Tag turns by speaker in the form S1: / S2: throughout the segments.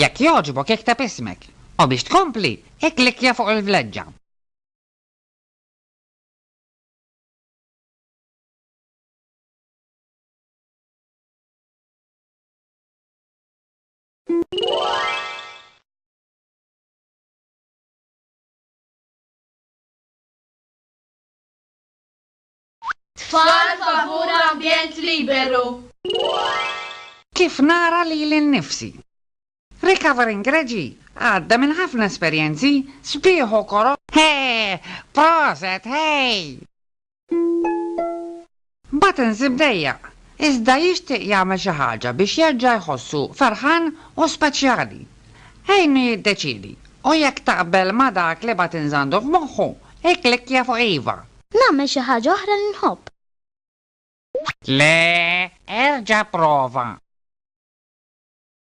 S1: Jekk jogħġbok ikteb ismek, u biex tkompli, ikklikkja fuq il-vleġġa. Tfal favur ambjent liberu. Kif nara lili nnifsi? Recovering Reġi għadda minn ħafna esperjenzi sbieħ u koroh. Hee! Proset, hej! Mbagħad insib dejjaq, iżda jixtieq jagħmel xi ħaġa biex jerġa' jħossu ferħan u speċjali. Għinu jiddeċiedi, u jekk taqbel ma' dak li bagħat inzandu f'moħħu, ikklikkja fuq iva. Nagħmel xi ħaġa oħra li nħobb. Le, erġa' pprova.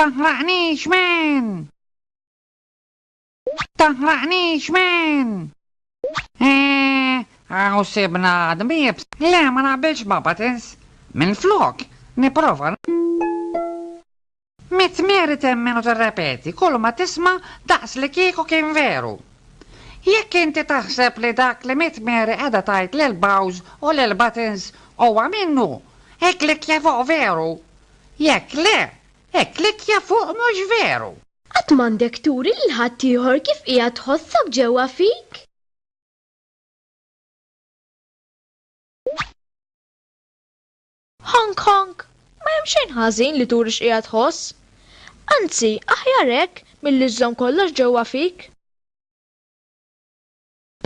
S1: Taħraqnix man! Taħraqnix man! Eeh, hawn sibna dbieb! Le, ma naqbilx ma' Buttons. Minflok, nipprova. Mi tmeri temmen u tirrepeti kulma tisma' daqs li kieku kien veru. Jekk inti taħseb li dak li mi tmeri qiegħda tgħid lil Bowz u lil Buttons huwa minnu, ikklikkja fuq Veru. Jekk le, ikklikkja fuq Mhux veru. Qatt m'għandek turi lil ħaddieħor kif qiegħed tħossok ġewwa fik. Hong Kong, Ma hemm xejn ħażin li turi x'qiegħed tħoss. Anzi, aħjar hekk milli żżomm kollox ġewwa fik.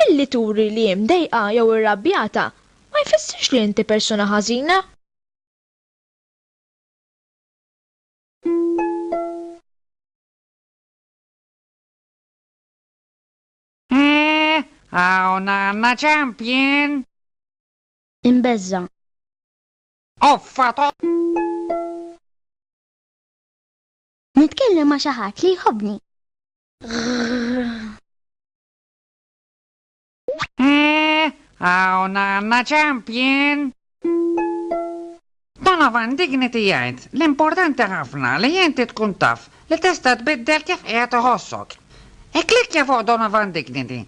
S1: Billi turi li mdejqa jew irrabjata, ma jfissirx li inti persuna ħażina. Hawn għandna champion! Imbezza. Offa to! Nitkellem ma' xi ħadd li jħobbni. Eh, hawn għandna champion! Donovan Dignity jgħid l-importanti ħafna li inti tkun taf li tista' tbiddel kif qiegħed iħossok. Ikklikkja fuq Donovan Dignity.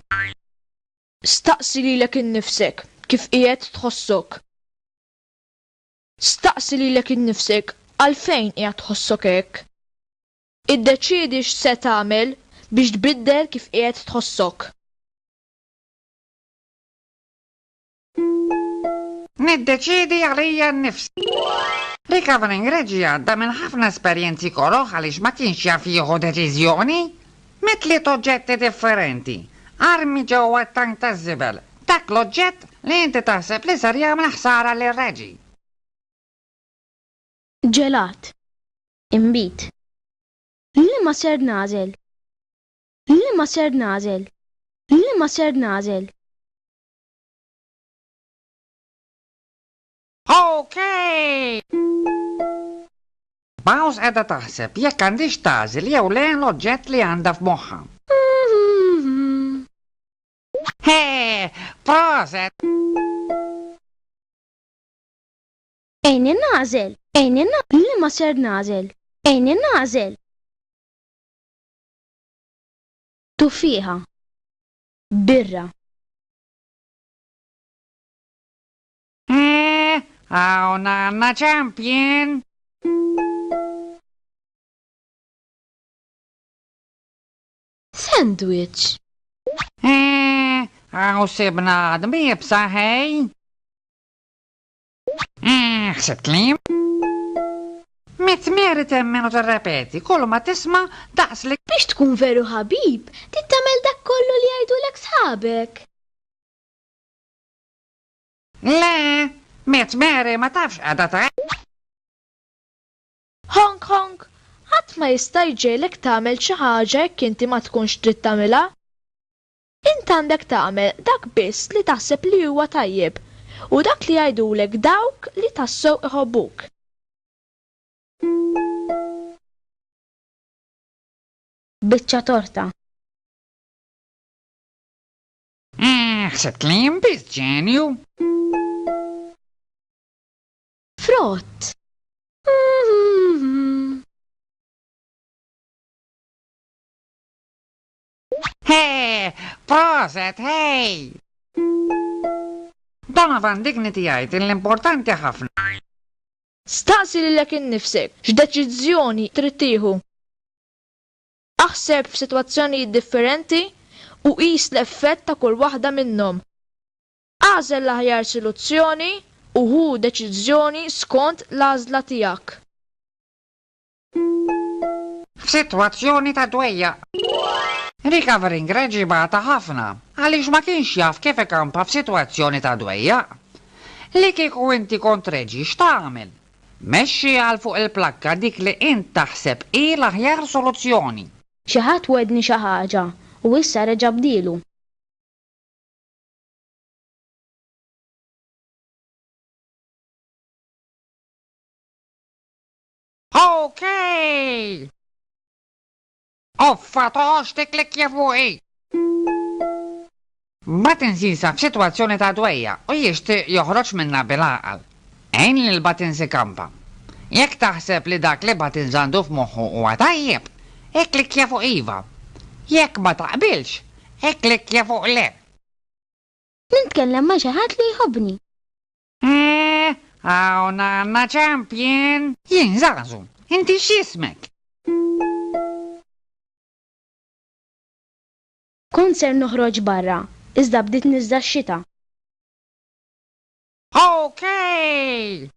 S1: Staqsi lilek innifsek kif qiegħed tħossok. Staqsi lilek innifsek għalfejn qiegħed tħossok hekk. Iddeċiedi x'se tagħmel biex tbiddel kif qiegħed tħossok. Niddeċiedi għalija nnifsi. Recovering Reggie għadda minn ħafna esperjenzi koroh għaliex ma kienx jaf jieħu deċiżjoni. Met tliet oġġetti differenti. Armi ġewwa t-tank taż-żibel. Dak l-oġġett li inti taħseb li ser jagħmel ħsara lil Reggie. Ġelat. inbid. Liema ser nagħżel? Liema ser nagħżel? Liema ser nagħżel? Okay! Mouse qiegħda taħseb jekk għandhiex tagħżel jew le l-oġġett li għandha f'moħħha. Hee! Proset! Għini nagħżel, għini nagħżel, liema ser nagħżel? Għini nagħżel. Tuffieħa. Birra. Eh, hawn għandna champion! Sandwich. Eh, hawn sibna għadmi b'saħħej. Eeh, ħsibt li. Mitt mieri temmen u tirrepeti kulma tisma' daqs li. Biex tkun veru ħabib, trid tagħmel dak kollu li jgħidulek sħabek. Le, Mitt Mary ma tafx qiegħda tgħid. Honk honk, ħadd ma jista' jġegħlek tagħmel xi ħaġa jekk inti ma tkunx trid tagħmilha. Int għandek tagħmel dak biss li taħseb li huwa tajjeb u dak li jgħidulek dawk li tassew iħobbuk. Biċċa torta. Eeh, ħsibt li jien biss ġenju? Frott. Hee! Proset, hey! Donovan Dignity jgħid li l-importanti ħafna. Staqsi lilek innifsek x'deċiżjoni trid tieħu. Aħseb f'sitwazzjonijiet differenti u qis l-effett ta' kull waħda minnhom. Agħżel l-aħjar siluzzjoni u ħu deċiżjoni skont l-għażla tiegħek. f'sitwazzjoni ta' dwejjaq. Recovering Reg jibgħatha ħafna għaliex ma kienx jaf kif ikampa f'sitwazzjoni ta' dwejjaq. Li kieku inti kont Reġi x'tagħmel? Mexxi għal fuq il-plakka dik li int taħseb hi l-aħjar soluzzjoni. Xi ħadd wegħdni xi ħaġa u issa reġa' bdielu. OK! Uffa toħox tikklikkja fuqi! Buttons jinsab f'sitwazzjoni ta' dwejjaq u jixtieq joħroġ minnha bil-għaqal. Għin lil Buttons ikampa. Jekk taħseb li dak li Buttons għandu f'moħħu huwa tajjeb, ikklikkja fuq iva. Jekk ma taqbilx, ikklikkja fuq le. Nitkellem ma' xi ħadd li jħobbni. Eeh, hawn għandna champion! Jien Żagħżu, inti x'jismek? Kont ser noħroġ barra, iżda bdiet niżda x-xita. Okay!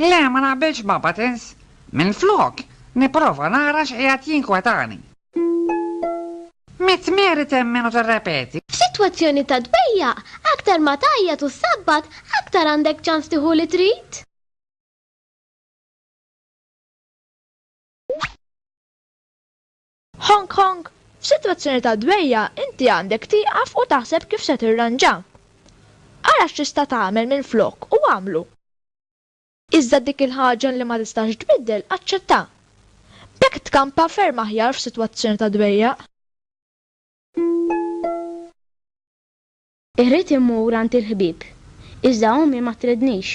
S1: Le, ma naqbilx ma' Buttons. Minflok, nipprova nara x'qiegħed jinkwetani. Mitt miri temmen u tirrepeti. F'sitwazzjoni ta' dbejjaq, aktar ma tgħajjat u ssabbat, aktar għandek ċans tieħu li trid. Hong Kong, F'sitwazzjoni ta' dwejjaq inti għandek tieqaf u taħseb kif se tirranġa. Ara x'tista' tagħmel minflok u agħmlu. Iżda dik il-ħaġa li ma tistax tbiddel aċċettha. B'hekk tkampa ferm aħjar f'sitwazzjoni ta' dwejjaq. Irrid immur għand il-ħbieb, iżda ommi ma tridnix.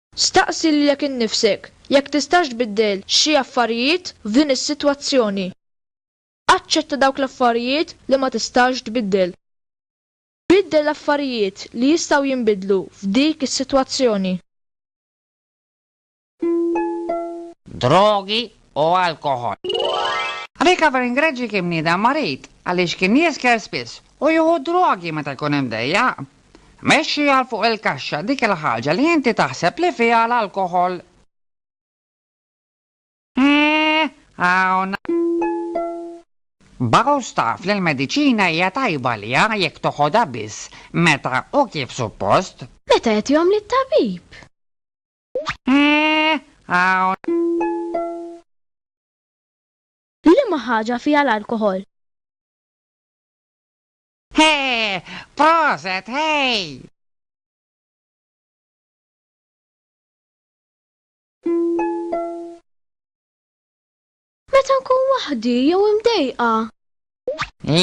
S1: Staqsi lilek innifsek jekk tistax tbiddel xi affarijiet f'din is-sitwazzjoni. Aċċetta dawk l-affarijiet li ma tistax tbiddel. Biddel l-affarijiet li jistgħu jinbidlu f'dik is-sitwazzjoni. Drogi u alkoħol. Recovering Reggie kien bniedem marid għaliex kien jisker spiss u jieħu d-drogi meta jkun imdejjaq. Mexxi għal fuq il-kaxxa dik il-ħaġa li inti taħseb li fiha l-alkoħol. Eeh, hawn. Baros taf li l-mediċina hija tajba għaliha jekk toħodha biss meta u kif suppost. Meta jagħtihom lit-tabib. Eeh, hawn. Liema ħaġa fiha l-alkoħol? Hee! Proset, hej! Meta nkun waħdi jew imdejqa.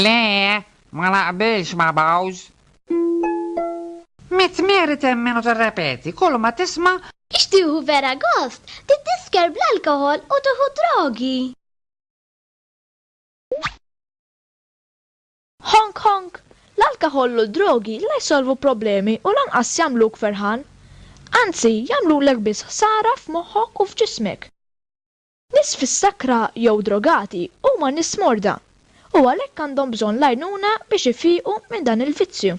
S1: Le, ma naqbilx ma' Bowz. Mit meri temmen u terrepeti, kull ma tisma' Ixtieħu vera gost, tiddisker bl-alkohol u tuħu drogi. Honk honk! L-alkaħoll u d-drogi la jsolvu problemi u lanqas jagħmluk ferħan. Anzi, jagħmlulek biss ħsara f'moħħok u f'ġismek. Nies fis-sakra jew drogati huma nies morda u għalhekk għandhom bżonn l-għajnuna biex ifiequ minn dan il-vizzju.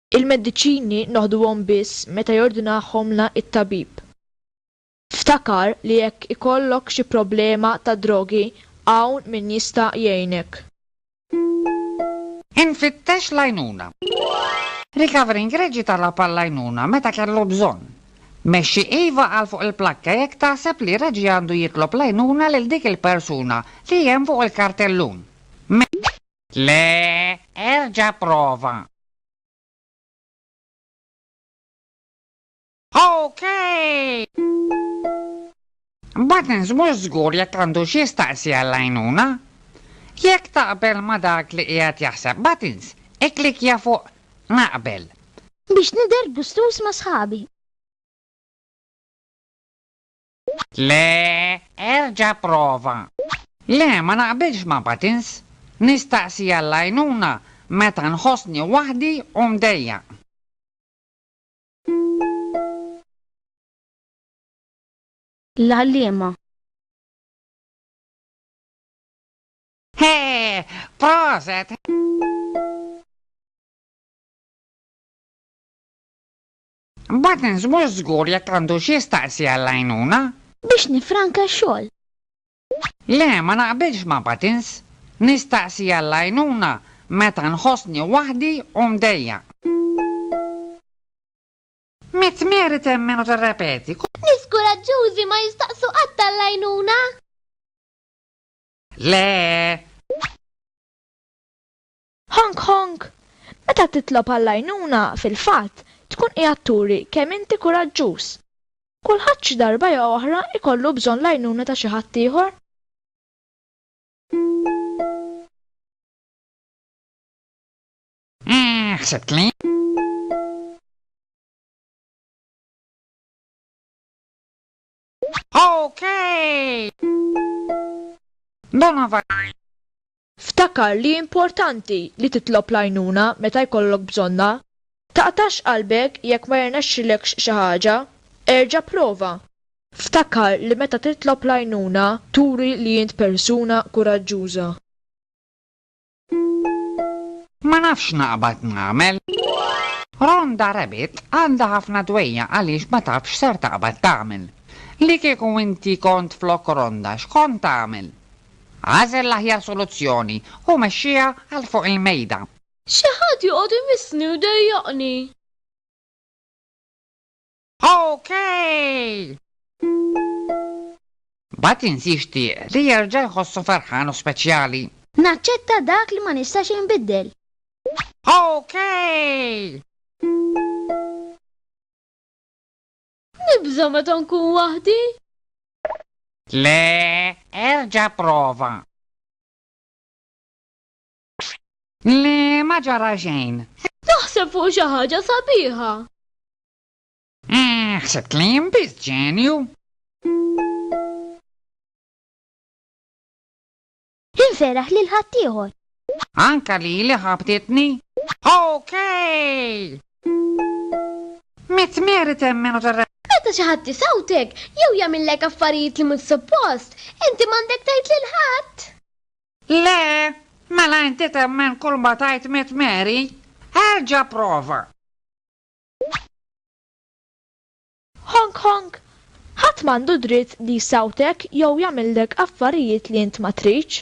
S1: Il-mediċini noħduhom biss meta jordinahomlna t-tabib. Ftakar li jekk ikollok xi problema tad-drogi, hawn min jista' jgħinek. Infittex l-għajnuna. Recovering Reġi talab għall-għajnuna meta kellu bżonn. Mexxi iva għal fuq il-plakka jekk taħseb li Reġi għandu jitlob l-għajnuna lil dik il-persuna li hemm fuq il-kartellun. Le, erġa' prova. OK! Buttons mhux żgur jekk għandux jistaqsi għall-għajnuna. Jekk taqbel ma' dak li qiegħed jaħseb Buttons, ikklikkja fuq Naqbel. Biex nidher gustuż ma' sħabi. Le, erġa' prova. Le, ma naqbilx ma' Patins. Nistaqsi għall-għajnuna meta nħossni waħdi u mdejjaq. L-għalliema. Hee! Proset! Buttons mhux żgur jekk għandux jistaqsi għall-għajnuna. Biex nifranka x-xogħol. Le, ma naqbilx ma' Buttons. Nistaqsi għall-għajnuna meta nħossni waħdi u mdejjaq. Mitt meri temmen u tirrepeti. Nies kuraġġużi ma jistaqsu qatt għall-għajnuna. Le! Honk Honk! Meta titlob għall-għajnuna, fil-fatt, tkun qiegħed turi kemm inti kuraġġuż. Kulħadd xi darba jew oħra jkollu bżonn l-għajnuna ta' xi ħadd ieħor. Eeh, ħsibt li. Okay! Donna Violet. Ftakar li importanti li titlob l-għajnuna meta jkollok bżonnha. Taqtax qalbek jekk ma jirnexxilekx xi ħaġa. Erġa' pprova. Ftakar li meta titlob l-għajnuna turi li int persuna kuraġġuża. Ma nafx x'naqbad nagħmel. Rhonda Rabbit għandha ħafna dwejjaq għaliex ma tafx x'ser taqbad tagħmel. Li kieku inti kont flok Rhonda x'kont tagħmel? Agħżel l-aħjar soluzzjoni u mexxiha għal fuq il-mejda. Xi ħadd joqgħod imissni u jdejjaqni. OK! Batin jixtieq li jerġa' jħossu ferħan u speċjali. Naċċetta dak li ma nistax inbiddel. OK! Nibża' meta nkun waħdi. Le, erġa' prova. Le, ma ġara xejn. Naħseb fuq xi ħaġa sabiħa. Ah, ħsibt li jien biss ġenju. Inseraħ lil ħaddieħor. Anka li li ħabtitni? Okay! Mit meri temmenu tar Meta xi ħadd isawtek jew jagħmillek affarijiet li mhux suppost, inti m'għandek tgħid lil ħadd. Le, mela inti temmen kull ma tajt mit meri, erġa' prova. Hong Kong, Ħadd m'għandu dritt li jsawtek jew jagħmillek affarijiet li int ma tridx.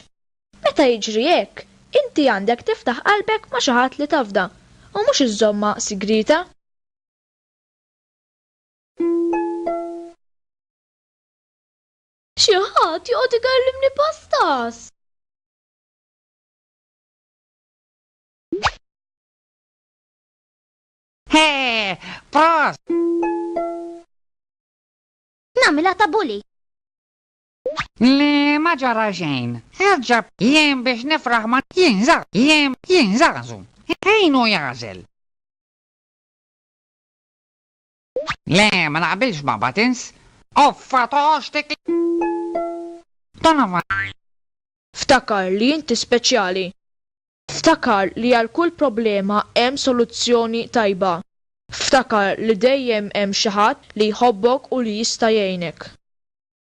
S1: Meta jiġri hekk, inti għandek tiftaħ qalbek ma' xi ħadd li tafda, u mhux iżżommha sigrieta. Xi ħadd joqgħod ikellimni pastas! Hee, pros! Namila ta' bully. Li ma ġara xejn. Erġab jien biex nifraħ ma jinża, jien jinżazu. Ħinu jażel. Le, ma naqbilx ma' Buttons. Uffa tox dik Donovan! Ftakar li inti speċjali. Ftakar li għal kull problema hemm soluzzjoni tajba. Ftakar li dejjem hemm xi ħadd li jħobbok u li jista' jgħinek.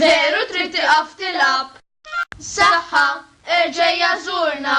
S1: Veru trid tiqaf tilgħab. Saħħa, erġa' żurna.